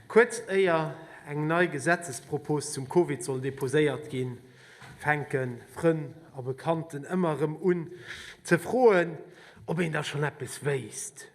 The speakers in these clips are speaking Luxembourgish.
Kuerz éier eng nei Gesetzespropos zum Covid soll deposéiert ginn, fänke Frënn a Bekannten ëmmer erëm un ze froen, ob een da schonn eppes wéisst,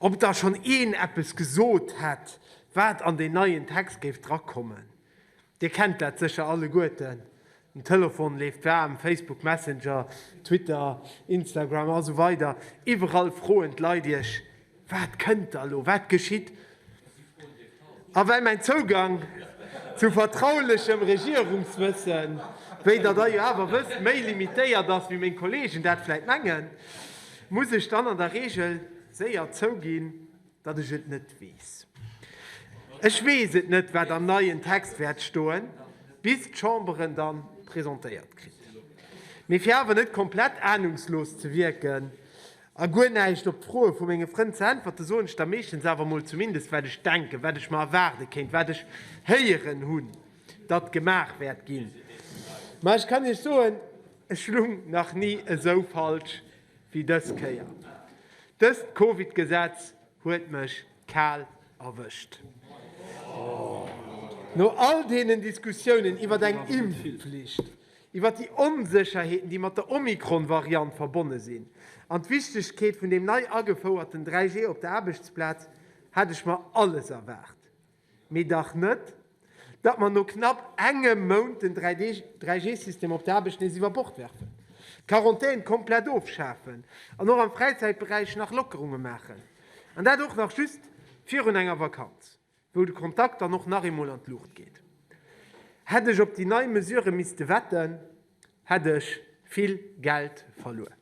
ob da schonn een eppes gesot hätt, wat an deen neien Text géif drakommen. Dir kennt dat sécher alleguerten, den Telefon leeft waarm, Facebook Messenger, Twitter, Instagram a sou weider, iwwerall froen d'Leit iech, Wat kënnt da lo, wat geschitt? A well mäin Zougang zu vertraulechem Regierungswëssen, wéi der der jo awer wësst, méi limitéiert ass, wéi meng Kollegen dat vläit mengen, muss ech dann an der Reegel séier zouginn, Datt ech et net weess. Ech weess et net, wat am neien Text wäert stoen, bis d'Chamber en da presentéiert kritt. Mee fir awer net komplett anungslos ze wierken a guer näischt op d'Froe vu menge Frënn ze äntwerte soen ech da meeschtens awer emol zumindest, wat ech denken, wat ech mer erwaarde kéint, wat ech héieren hunn, datt gemaach wäert ginn. Mä ech kann Iech soen, ech lung nach ni esou falsch wéi dës Kéier. Dëst Covid Gesetz huet mech kal erwëscht. No all deenen Diskussiounen iwwert eng Impfflicht, iwwert déi Onsécherheeten déi mat der Omikron Variant verbonne sinn, an d'Wichtegkeet vun deem nei agefouerten 3G op der Aarbechtsplaz, hat ech mer alles erwaart. Mee dach net, datt mer no knapp engem Mount den 3G-System op der Aarbecht nees iwwer Bord werfen, d'Quarantaine komplett ofschafen an och am Fräizäitberäich nach Lockerunge maachen, an dat och nach just virun enger Vakanz, wou de Kontakt dann och nach eemol an d'Luucht geet. Hätt ech op déi nei Mesure misste wetten, hätt ech vill Geld verluer.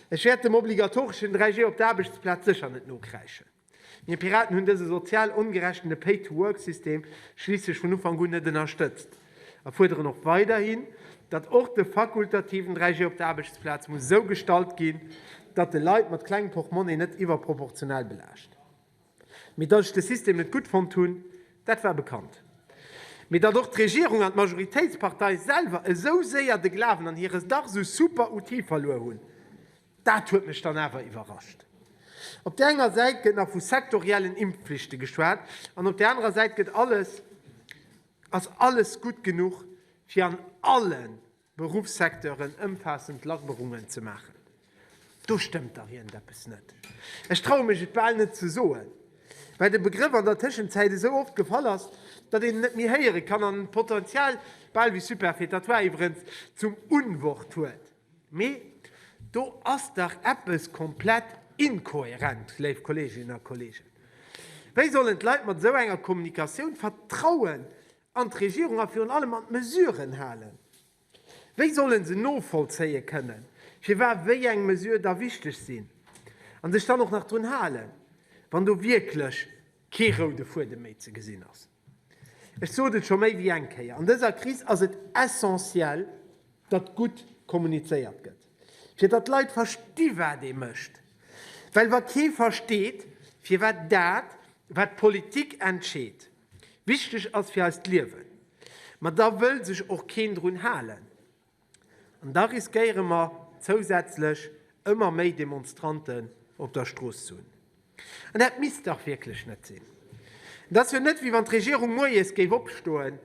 Ech wäert dem obligatoreschen 3G op der Aarbechtsplaz sécher net nokräischen. Mir Piraten hunn dëse sozial ongerechten a Pay-to-work-System schliisslech vun Ufank un net ënnerstëtzt a fuerderen och weiderhin, datt och de fakultativen 3G op der Aarbechtsplaz muss esou gestalt ginn, datt e Leit mat klengem Portmonni net iwwerproportional belaascht. Mee datt ech de System net gutt fonnt hunn, dat war bekannt. Mee datt och d'Regierung an d'Majoritéitspartei selwer esou séier de Glawen an hire dach esou super Outil verluer hunn, Dat huet mech dann awer iwwerrascht. Op där enger Säit gëtt nach vu sektoriellen Impfpflichte geschwat an op där anerer Säit gëtt alles, ass alles gutt genuch, fir an alle Beruffssecteuren ëmfaassend Lackerungen ze maachen. Do stëmmt dach iergendeppes net. Ech traue mech et bal net ze soen, well de Begrëff an der Tëschenzäit esou oft gefall ass, datt een en net méi héiere kann an d'Potenzial, bal wéi superfétatoire iwwerens, zum Unwort huet. Mee do ass dach eppes komplett inkohärent, léif Kolleeginnen a Kolleegen. Wéi sollen d'Leit mat esou enger Kommunikatioun Vertrauen an d'Regierung a virun allem an d'Mesuren halen? Wéi solle se novollzéie kënnen, firwat wéi eng Mesure da wichteg sinn a sech dann och nach drun halen, wann do wierklech kee roude Fuedem méi ze gesinn ass? Ech sot et scho méi wéi eng Kéier, an dëser Kris ass et essentiel, datt gutt kommunizéiert gëtt, fir datt d'Leit versti wat ee mécht. Well wa kee versteet, firwat dat, wat d'Politik entscheet, wichteg ass fir eist Liewen, ma da wëll sech och keen drun halen. An da riskéiere mer zousätzlech ëmmer méi Demonstranten op der Strooss ze hunn. An dat misst dach wierklech net sinn. Et ass jo net, wéi wann d'Regierung moies géif opstoen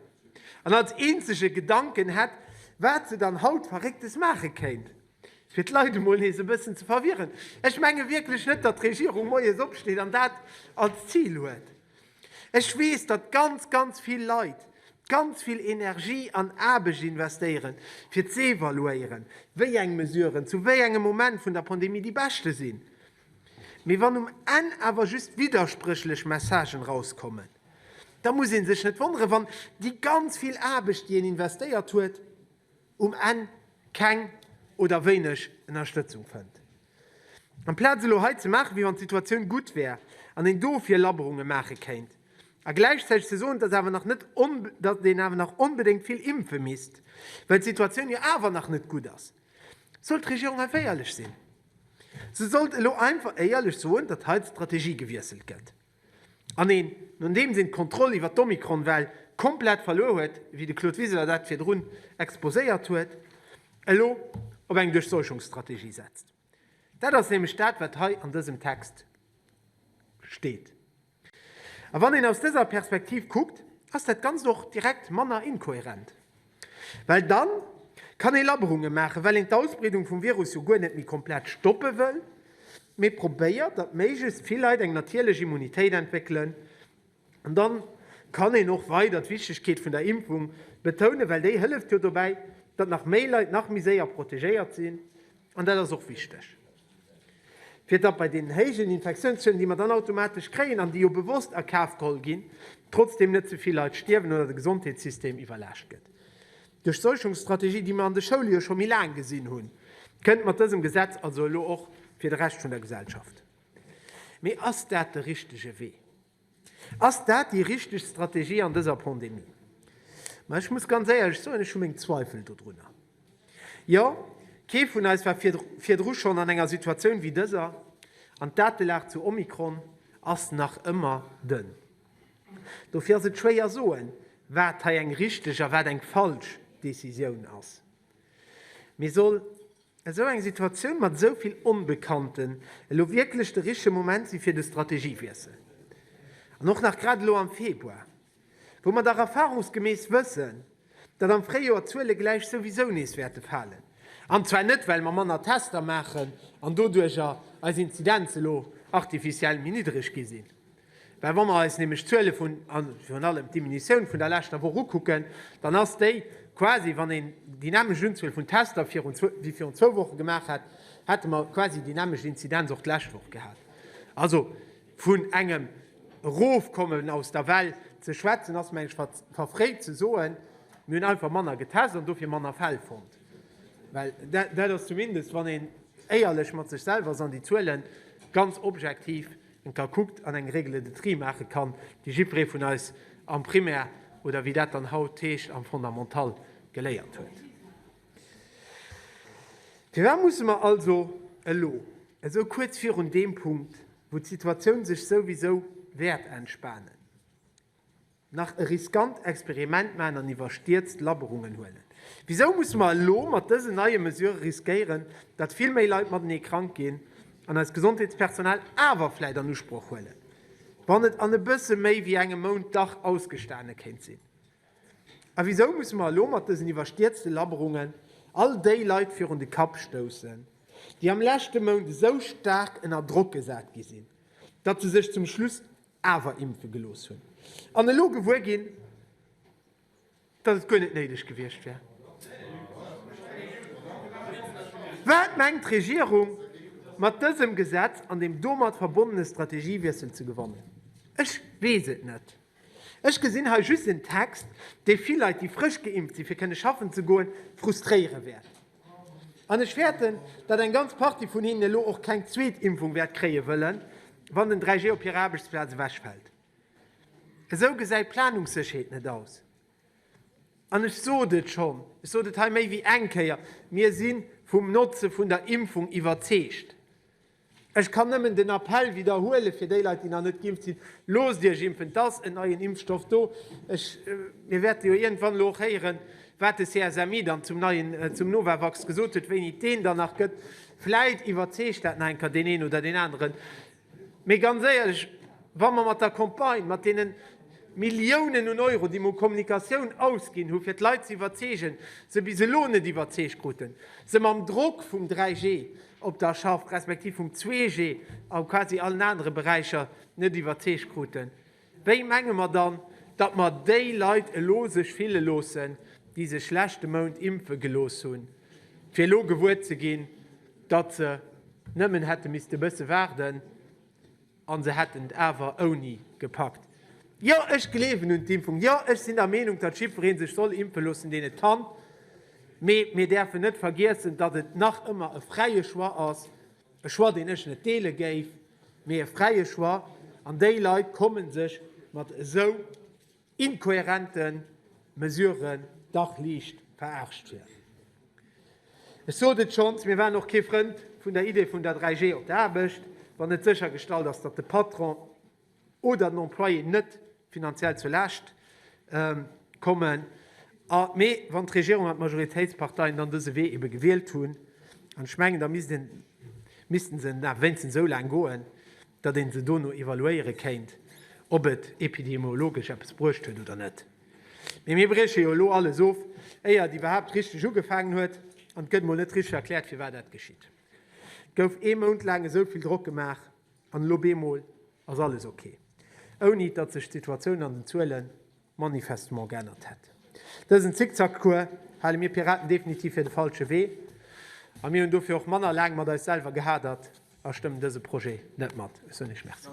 an als eenzege Gedanken hätt, wat se dann haut Verrécktes maache kéint, fir d'Leit emol nees e bëssen ze verwirren. Ech menge wierklech net, datt d'Regierung moies opsteet an dat als Zil huet. Ech weess, datt ganz, ganz vill Leit ganz vill Energie an Aarbecht investéieren, fir z'evaluéieren, wéi eng Mesuren zu wéi engem Moment vun der Pandemie déi beschte sinn. Mee wann um Enn awer just widderspréchlech Messagen erauskommen, da muss ee sech net wonneren, wann déi ganz vill Aarbecht, déi een investéiert huet, um Enn keng oder wéineg Ënnerstëtzung fënnt. Amplaz elo hei ze maachen, wéi wann d'Situatioun gutt wär an een dofir Labberunge maache kéint, a gläichzäiteg ze soen, datt awer nach net, datt een awer nach onbedéngt vill impfe misst, well d'Situatioun jo awer nach net gutt ass, sollt d'Regierung einfach éierlech sinn. Se sollt elo einfach éierlech soen, datt hei d'Strategie gewiesselt gëtt. An een, nodeems een d'Kontroll iwwer d'Omikron-Well komplett verluer huet, wéi de Claude Wiseler dat virdrun exposéiert huet, elo op eng Duerchseuchungsstrategie setzt. Dat ass nämlech dat, wat hei an dësem Text steet. A wann een aus dëser Perspektiv kuckt, ass dat Ganzt och direkt manner inkohärent. Well dann kann ee Labberunge maachen, well een d'Ausbreedung vum Virus jo guer net méi komplett stoppe wëll, mee probéiert, datt méiglechst vill Leit eng natierlech Immunitéit entwéckelen. An da kann een och weider d'Wichtegkeet vun der Impfung betounen, well déi hëlleft jo dobäi, datt nach méi Leit nach méi séier protegéiert sinn, an dat ass och wichteg. Fir datt bei deenen héijen Infektiounszölen, déi mer dann automatesch kréien, an déi jo bewosst a Kaf geholl ginn, trotzdem net ze vill Leit stierwen oder de Gesondheetssystem iwwerlaascht gëtt. Duerch d'Seuchungsstrategie, déi mer an de Schoule jo scho méi laang gesinn hunn, kënnt mat dësem Gesetz also elo och fir de Rescht vun der Gesellschaft. Mee ass dat de richtege Wee? Ass dat déi richteg Strategie an dëser Pandemie? Ma ech muss ganz éierlech soen, ech hu meng Zweifel dodrunner. Jo, kee vun eis war virdru schonn an enger Situatioun wéi dëser, an d'Datelag zu Omikron ass nach ëmmer dënn. Dofir ass et schwéier soen, wat hei eng richteg a wat eng falsch Decisioun ass. Mee soll Esou eng Situatioun mat esou vill Onbekannten, elo wierklech de richtege Moment si fir de Strategiewiessel? An och nach grad elo am Februar, wou mer dach erfahrungsgemäss wëssen, datt am Fréijoer d'Zuele gläich souwisou nees wäerte falen, an zwar net well mer manner Tester maachen an doduercher eis Inzidenz elo artificiell méi niddereg gi sinn, Well wa mer eis nämlech d'Zuele vun, a virun allem d'Diminutioun vun der leschter Woch ukucken, dann ass déi quasi, wann een dynamesch Unzuel vun Tester virun, wéi virun zwou Woche gemaach hätt, hätte mer quasi déi dynamesch Inzidenz och d'lescht Woch gehat. Also vun engem Erofkommen aus der Well ze schwätzen, ass meng ech verfréit ze soen. Mir hunn einfach manner getest an dofir manner Fäll fonnt. Well dat ass zumindest, wann een éierlech mat sech selwer ass an déi Zuele ganz objektiv ka kuckt an eng Règle de tri maache kann, déi jiddweree vun eis am Primaire oder wéi dat dann haut heescht am Fondamental geléiert huet. Firwat musse mer also elo, esou kuerz virun deem Punkt, wou d'Situatioun sech souwisou wäert entspanen, Nach e riskant Experiment maachen an iwwerstierzt Labberungen huelen? Wisou musse mer elo mat dësen neie Mesure riskéieren, datt vill méi Leit matenee krank ginn an eist Gesondheetspersonal awer vläit an Usproch huelen, wann et an e bësse méi wéi engem Mount dach ausgestane kéint sinn? A wisou musse mer elo mat dësen iwwerstierzte Labberungen all déi Leit virun de Kapp stoussen, déi am leschte Mount esou staark ënner Drock gesat gi sinn, datt se sech zum Schluss awer impfe gelooss hunn an elo gewuer ginn, datt et guer net néideg gewiescht wär. Wat mengt d'Regierung mat dësem Gesetz an dem domat verbonnene Strategiewiessel ze gewannen? Ech weess et net. Ech gesinn hei just en Text, dee vill Leit, déi frësch geimpft sinn, fir kënne schaffen ze goen, frustréiere wäert. An ech fäerten, datt eng ganz Partie vun hinnen elo och keng zweet Impfung wäert kréie wëllen, wann den 3G op hirer Aarbechtsplaz ewechfält. Esou gesäit d'Planungssécherheet net aus. An ech sot et schonn, ech sot et hei méi wéi eng Kéier, Mir si vum Notze vun der Impfung iwwerzeegt. Ech kann nëmmen den Appell widderhuelen, fir déi Leit, déi nach net geimpft sinn, Loosst Iech impfen! Et ass en neien Impfstoff do. Ech, mir wäerte jo iergendwann elo och héieren, wat de CSMI dann zum neien, zum Novavax gesot huet, wéini et deen dann nach gëtt. Vläit iwwerzeegt dat nach eng Kéier deen een oder deen aneren. Mee ganz éierlech, wa mer mat der Campagne, mat deenen Milliounen un Euro, déi mer u Kommunikatioun ausginn hu fir d'Leit ze iwwerzeegen, se bis elo net iwwerzeegt kruten, se mam Drock vum 3G, op der Schaff respektiv vum 2G a quasi allen anere Beräicher net iwwerzeegt kruten, wéi menge mer dann, datt mer déi Leit elo sech fille loossen, déi sech leschte Mount impfe gelooss hunn, fir elo gewuer ze ginn, datt se nëmmen hätte misste e bësse waarden? An se hätten et awer ouni gepackt. Jo, ech gleewen un d'Impfung. Jo, ech sinn der Meenung, datt jiddweree sech soll impfe loossen, deen et kann. Mee mir däerfen net vergiessen, datt et nach ëmmer e fräie Choix ass. E Choix, deen ech net deele géif, mee e fräie Choix. An déi Leit komme sech mat esou. inkohärenten Mesuren dach liicht veraarscht wier. Ech sot et schonns, mir waren och kee Frënd vun der Idee vun der 3G op der Aarbecht, wann net séchergestallt ass, datt de Patron oder den Employé net finanziell zur Laascht kommen. Mee wann d'Regierung an d'Majoritéitsparteien dann dëse Wee ebe gewielt hunn, an ech mengen, da misst een, missten se wéinstens esou laang goen, datt ee se dono evaluéiere kéint, ob et epidemiologesch eppes bruecht huet oder net. Mee mir brieche jo elo alles of, éier et iwwerhaapt richteg ugefaangen huet, an et gëtt mol net richteg erkläert, firwat dat geschitt. Et gouf ee Mount laang esou vill Drock gemaach, an elo bemol ass alles ok, ouni datt sech d'Situatioun an den Zuelen manifestement geännert hätt. Dësen Zickzackcours hale mir Piraten definitiv fir de falsche Wee a mir hunn dofir och manner laang mat eis selwer gehadert a stëmmen dëse Projet net mat. Ech soen Iech Merci.